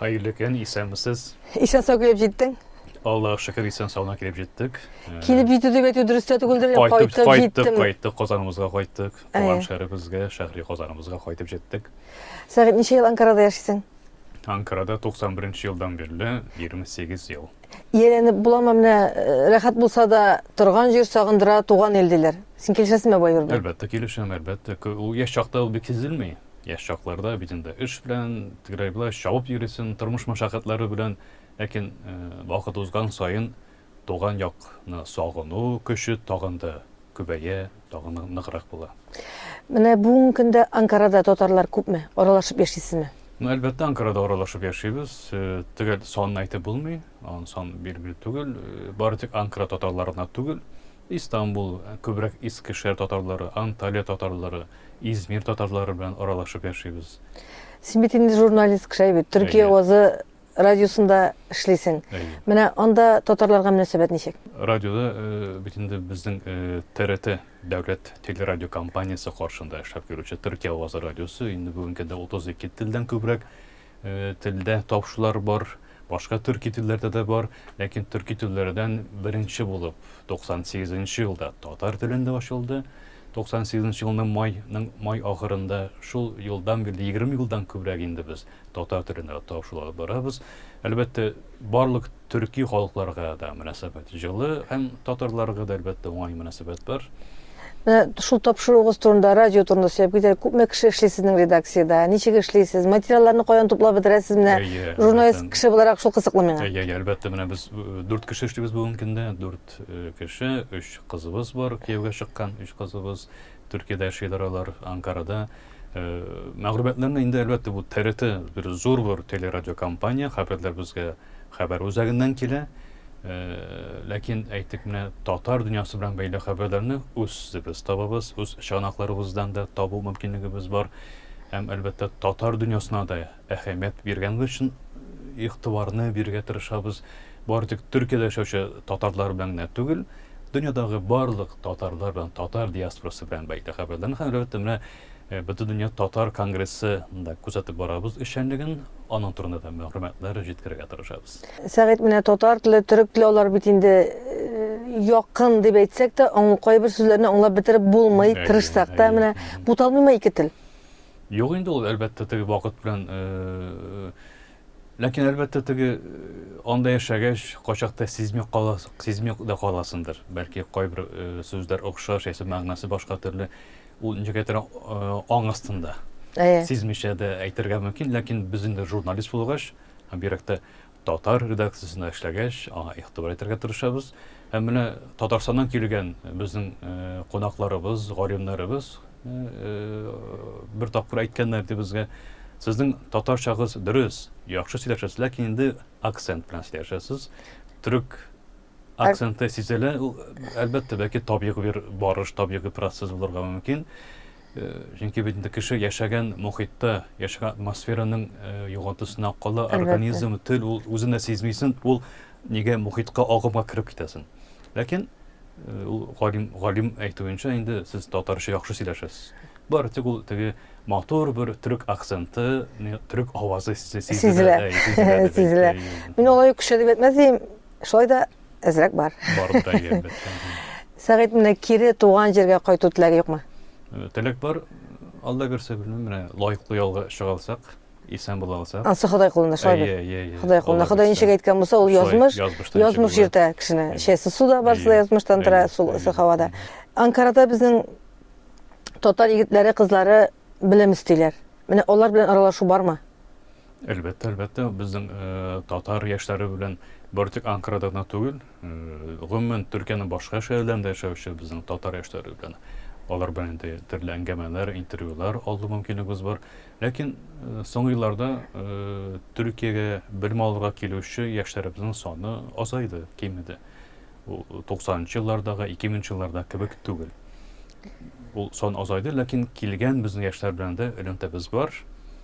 Хәерле көн, исәнмесез. Исән сау килеп җиттең. Аллаһ шөкер исән саулана килеп җиттек. Э, килеп җитү дип әйтү дөрес тә түгелдер, кайтып, кайтып җиттем. Кайттык, кайттык, Казаныбызга кайттык. Э. Туган шәһәребезгә, шәһри Казаныбызга кайтып җиттек. Сәгыйть, ничә ел Анкарада яшисең? Анкарада 91 елдан бирле 28 ел. Ияләнеп буламы менә э, рәхәт булса да торган җир сагындыра туган ил диләр. Син килешәсеңме бу әйбер белән? Әлбәттә килешәм, әлбәттә. Ул яшь чакта ул бик сизелми. Яшь чакларда бит инде эш белән, тегерәй-болай чабып йөрисең, тормыш мәшәкатьләре белән. Ләкин вакыт узган саен туган якны сагыну көче тагын да күбәя, тагын да ныграк була. Менә бүгенге көндә Анкарада татарлар күпме? Аралашып яшисезме? Ну, әлбәттә, Анкарада аралашып яшибез. Төгәл санын әйтеп булмый. Аның саны билгеле түгел. Бары тик Анкара татарларына түгел, Истанбул, күбрәк Искешәр татарлары, Анталия татарлары, Измир татарлары белән аралашып яшибез. Син бит инде журналист кеше әйбит. Төркия Әйе. вазы радиосында эшлисең. Әйе. Менә анда татарларга мөнәсәбәт ничек? Радиода э, бит инде безнең э, ТРТ дәүләт телерадиокомпаниясе каршында эшләп йөрүче Төркия вазы радиосы инде бүгенге көндә 32 телдән күбрәк Телдә тавышлар бар, башка төрки телләрдә дә бар, ләкин төрки телләрдән беренче булып 98 нче елда татар телендә ачылды. 98 нче елның майның май ахырында шул елдан бирле 20 елдан күбрәк инде без татар телендә тавышлар алып барабыз. Әлбәттә, Барлык төрки халыкларга да мөнәсәбәт җылы һәм татарларга да, әлбәттә, уңай мөнәсәбәт бар. Менә шул тапшыруыгыз турында, радио турында сөйләп китәләр. Күпме кеше эшли сезнең редакциядә? Ничек эшлисез? Материалларны каян туплап бетерәсез? Менә журналист кеше буларак шул кызыклы миңа. Әйе, әйе, әлбәттә, менә без э, дүрт кеше эшлибез бүгенге көндә. Дүрт э, кеше, өч кызыбыз бар, кияүгә чыккан өч кызыбыз. Төркиядә яшиләр алар, Анкарада. Э, мәгълүматларны инде, әлбәттә, бу ТРТ бер зур бер телерадиокомпания, хәбәрләр безгә хәбәр үзәгеннән килә. Э, ләкин әйтик менә татар дөньясы белән бәйле хәбәрләрне үзебез табабыз, үз чыганакларыбыздан да табу мөмкинлегебез бар. Һәм, әлбәттә, татар дөньясына да әһәмият биргәнегез өчен, игътибарны бирергә тырышабыз. Бары тик Төркиядә яшәүче татарлар белән генә түгел, дөньядагы барлык татарлар белән, татар диаспорасы белән бәйле хәбәрләрне һәм, әлбәттә, менә э, Бөтендөнья татар конгрессы да күзәтеп барабыз эшчәнлеген, аның турында да мәгълүматлар җиткерергә тырышабыз. Сәгыйть, менә татар теле, төрек теле алар бит инде э, якын дип әйтсәк тә, кайбер сүзләрне аңлап бетереп булмый, тырышсак та, менә буталмыймы ике тел? Юк инде ул, әлбәттә, теге вакыт белән. Ләкин, әлбәттә, теге анда яшәгәч, качакта сизми кала, сизми дә каласыңдыр. Бәлки кайбер сүзләр охшаш, яисә мәгънәсе башка төрле. Ул ничектер аң астында. Сизмичә дә әйтергә мөмкин, ләкин без инде журналист булгач, бигрәк тә Татар редакциясендә эшләгәч, аңа игътибар итәргә тырышабыз. Һәм менә Татарстаннан килгән безнең кунакларыбыз, галимнәребез бер тапкыр әйткәннәр ди безгә, Сезнең татарчагыз дөрес, яхшы сөйләшәсез, ләкин инде акцент белән сөйләшәсез. Төрек акценты сизелә. Ул әлбәттә бәки табигый бер барыш, табигый процесс булырга мөмкин. Э, чөнки бит инде кеше яшәгән мохитта, яшәгән атмосфераның э, югалтысына кала, организм, тел ул үзен дә сизмисен, ул нигә мохитка агымга кереп китәсен. Ләкин э, ул галим галим әйтүенчә инде сез татарча яхшы сөйләшәсез. Бар тик ул теге матур бер төрек акценты, төрек авазы сизелә. Сизелә. Мин алай көчләнеп әйтмәс идем. Шулай да әзрәк бар. Бар да әлбәттә. Сәгыйть менә кире туган җиргә кайту теләге юкмы? Э, теләк бар. Алла бирсә белмим, менә лаеклы ялга чыга алсак, исән була алсак. Ансы Ходай кулында шулай бит. Иә, иә, иә. Ходай кулында. Ходай ничек әйткән булса, ул язмыш. Язмыш җиртә кешене. Шәсе суда барсы да язмыштан тора, сул һавада. Анкарада безнең татар егетләре, кызлары белем истиләр. Менә алар белән аралашу бармы? Әлбәттә, әлбәттә, безнең э, татар яшьләре белән бер тик Анкарада гына түгел, э, гомумән Төркиянең башка шәһәрләрендә яшәүче безнең татар яшьләре белән алар белән инде төрле әңгәмәләр, интервьюлар алу мөмкинлегебез бар. Ләкин э, соңгы елларда э, Төркиягә белем алырга килүче яшьләребезнең саны азайды, кимеде. Ул 90 нчы еллардагы, 2000 нчы еллардагы кебек түгел. Ул сан азайды, ләкин килгән безнең яшьләр белән дә элемтәбез бар.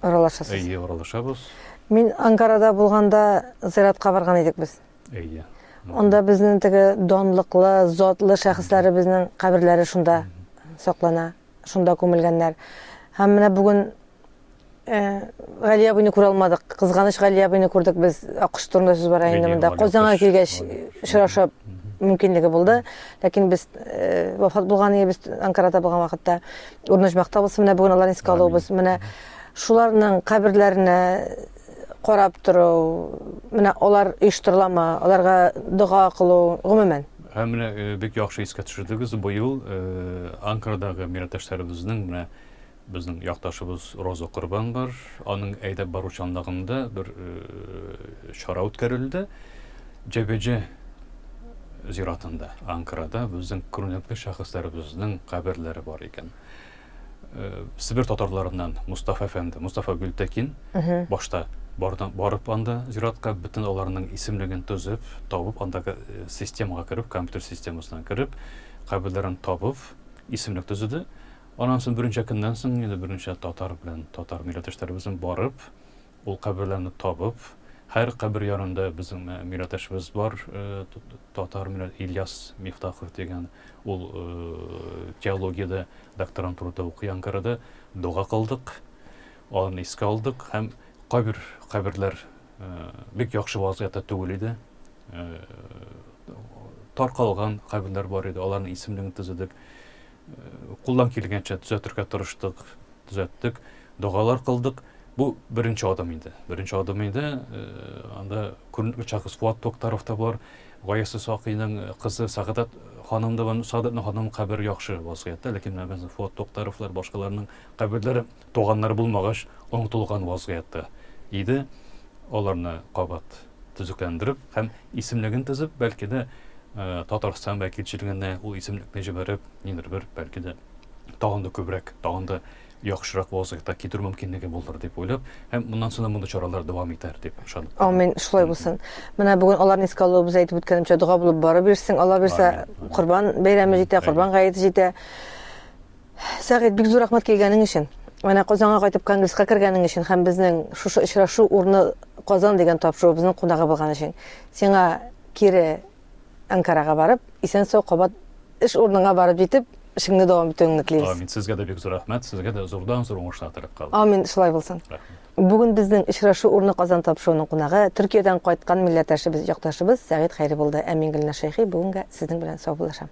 Аралашасыз? Әйе, аралашабыз. Мин Анкарада булганда зиратка барган идек без. Әйе. Анда безнең теге данлыклы, затлы шәхесләребезнең каберләре шунда саклана, шунда күмелгәннәр. Һәм менә бүген Гали абыйны күрә алмадык. Кызганыч Гали абыйны күрдек без. Аккош турында сүз бара инде монда. Казанга килгәч очрашу мөмкинлеге булды. Ләкин без э, вафат булган иде, без Анкарада булган вакытта. Урнашмак табылсын, менә бүген аларны искә алуыбыз. Менә шуларның каберләренә карап тору, менә алар оештырыламы, аларга дога кылу, гомумән. Һәм менә э, бик яхшы искә төшердегез. Быел э, Анкарадагы милләттәшләребезнең менә Безнең якташыбыз Роза Корбан бар. Аның әйдәп бару чанлыгында бер чара үткәрелде. Җәбеҗә зиратында, Анкарада безнең күренекле шәхесләребезнең каберләре бар икән. Э, Себер татарларыннан Мустафа әфәнде, Мустафа Гөлтәкин башта бардан барып анда зиратка бөтен аларның исемлеген төзеп, табып андагы э, системага кереп, компьютер системасына кереп, каберләрен табып, исемлек төзеде. Аннан соң берничә көннән соң инде берничә татар белән татар милләттәшләребезнең барып, ул каберләрне табып, һәр кабер янында безнең милләттәшебез бар, татар милләт Ильяс Мифтахов дигән, ул теологиядә докторантурада укый Анкарада, дога кылдык, аны искә алдык һәм кайбер каберләр бик яхшы вазгыятьтә түгел иде. Таркалган каберләр бар иде, аларның исемлеген төзедек. Кулдан килгәнчә төзәтергә тырыштык, төзәттек, догалар кылдык. Бу беренче адым инде. Беренче адым инде. Анда күренекле шәхес Фуат Токтаров та бар. Гаясы Сакыйның кызы Сәгадат ханым да бар. Сәгадатның ханым кабере яхшы вазгыятьтә, ләкин менә Фуат Токтаровлар, башкаларның каберләре Туганнар булмагач онытылган вазгыятьтә иде, аларны кабат төзекләндереп һәм исемлеген төзеп, бәлки дә Татарстан вәкилчелегенә ул исемлекне җибәреп, нидер бер, бәлки дә тагын да күбрәк, тагын да яхшырак вазгыятьтә китерү мөмкинлеге булыр дип уйлап, һәм моннан соң да мондый чаралар дәвам итәр дип ышанып. Амин, шулай булсын. Менә бүген аларны искә алуыбыз әйтеп үткәнемчә дога булып барып йөрсен, Алла бирсә, Корбан бәйрәме җитә, Корбан гаете җитә. Сәгыйть, бик зур рәхмәт килгәнең өчен. Менә Казанга кайтып конгресска кергәнең өчен һәм безнең шушы очрашу урны Казан дигән тапшыруыбызның кунагы булган өчен. Сиңа кире Анкарага барып, исән-сау кабат эш урыныңа барып җитеп, эшеңне дәвам итүеңне телибез. Амин. Сезгә дә бик зур рәхмәт. Сезгә дә зурдан-зур уңышлар теләп калам. Амин, шулай булсын. Рәхмәт. Бүген безнең очрашу урны Казан тапшыруының кунагы, Төркиядән кайткан милләттәшебез, якташыбыз Сәгыйть Хәйри булды. Әмин Гөлназ Шәйхи, бүгенгә сезнең белән саубуллашам.